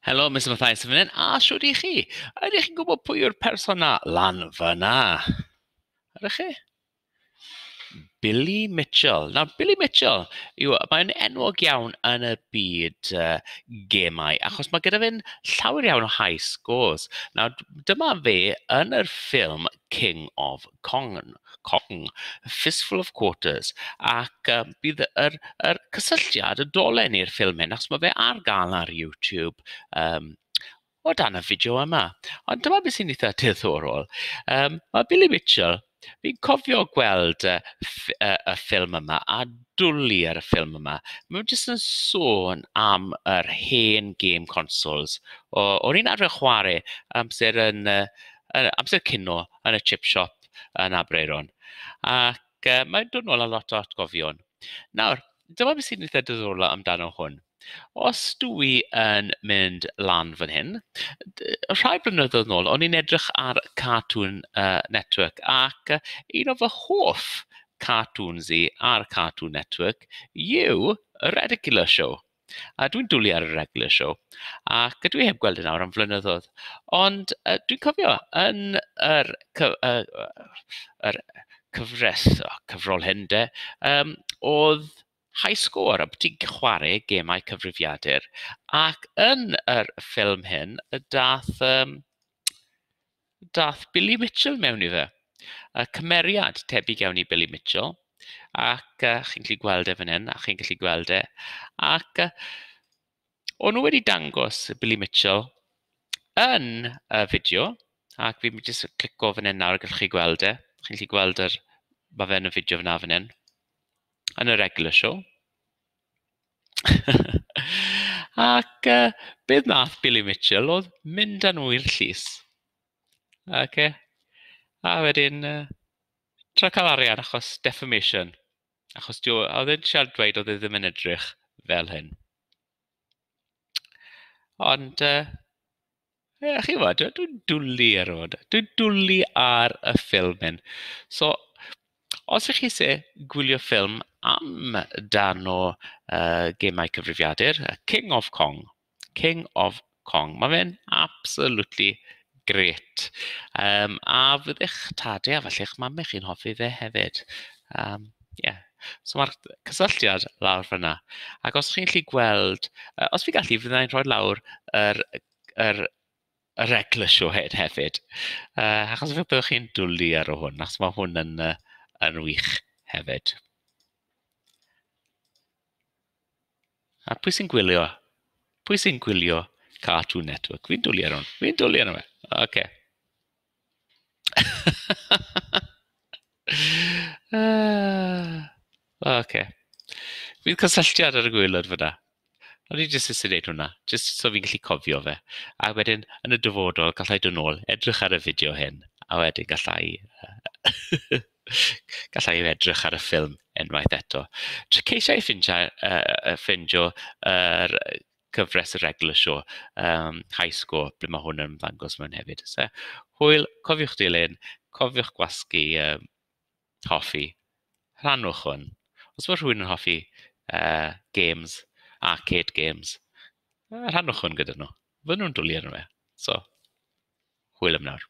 Helo Mister Mathias yn fan hyn, a shwt i chi? Ydych chi'n gwybod pwy yw'r person 'na lan fan'na? Ydych chi? Billy Mitchell. Nawr, Billy Mitchell, yw, mae'n enwog iawn yn y byd uh, gemau, achos mae gyda fe'n llawer iawn o high scores. Nawr, dyma fe yn yr ffilm King of Cong, Cong, Fistful of Quarters, ac uh, bydd yr, yr cysylltiad, y dolen i'r ffilm hyn, achos mae fe ar gael ar YouTube, um, o dan y fideo yma. Ond dyma beth sy'n eitha diddorol. Um, mae Billy Mitchell, fi'n cofio gweld y, y, y ffilm yma a dwlu ar y ffilm yma. Mae'n jyst yn sôn am yr hen game consoles. O'n i'n arfer chwarae amser yn uh, yn amser cino yn y chip shop yn Aberaeron. Ac uh, mae'n dod nôl â lot o atgofion. Nawr, dyma beth sy'n eitha diddorol amdano hwn. Os dwi i yn mynd lan fan hyn, rhai blynyddoedd nôl, o'n i'n edrych ar Cartoon uh, Network ac uh, un o fy hoff cartoons i ar Cartoon Network yw y Redicular Show. A dwi'n dwlu ar y regular show, ac dwi heb gweld e nawr am flynyddoedd. Ond yy dwi'n cofio yn yr cyf- yy yr cyfres, o cyfrol hyn de, yym oedd High Score a bod ti'n chwarae gemau cyfrifiadur. Ac yn yr ffilm hyn, daeth yym... Daeth Billy Mitchell mewn iddo. Y cymeriad tebyg iawn i Billy Mitchell, ac uh, chi'n gallu gweld e fan hyn, a chi'n gallu gweld e. Ac uh, o'n nhw wedi dangos Billy Mitchell yn y fideo, ac fi'n mynd jyst clico fan hyn nawr, gallwch chi gweld e. Chi'n gallu gweld yr, mae fe yn y fideo fyna fan hyn, yn y regular show. Ac yy be wnaeth Billy Mitchell oedd mynd â nhw i'r llys ocê a wedyn yy trio cael arian achos defamation achos dyw... oedd e'n trial dweud oedd e ddim yn edrych fel hyn ond yy... Ie, chimod, dw- dwi'n dwli ar y foda- dwi'n dwli ar y ffilm hyn. So, os y'ch chi isie gwylio ffilm am darn o yy gemau cyfrifiadur, yy King of Kong, King of Kong, ma' fe'n absolutely grêt. Yym a fyddech tade a falle eich mame chi'n hoffi fe hefyd. Yym. Ie, so ma'r cysylltiad lawr fan'na, ac os chi'n gallu gweld, yy os fi'n gallu fydda i'n rhoi lawr yr yr yr eglwys siwhd hefyd, yy achos fe- byddwch chi'n dwli ar hwn, achos ma' hwn yn yy yn wych hefyd. A pwy sy'n gwylio? Pwy sy'n gwylio Cartoon Network? Fi'n dwli ar hwn, fi'n dwli arno fe. Ocê. ok. Bydd cysylltiad ar y gwaelod fyna. O'n i jyst eisiau gwneud hwnna, jyst so fi'n gallu cofio fe. A wedyn, yn y dyfodol, gallai dod nôl, edrych ar y fideo hyn, a wedyn gallai gallai edrych ar y ffilm unwaith eto. Ceisiai ffeindio yr cyfres yr Eglwys o um, high score, ble mae hwn yn ymddangos mewn hefyd. So, hwyl, cofiwch dilyn, cofiwch gwasgu um, hoffi, rhannwch hwn. Os mae rhywun yn hoffi uh, games, arcade games, uh, rhannwch hwn gyda nhw. Fydden nhw'n dwlu arno fe. So, hwyl am nawr.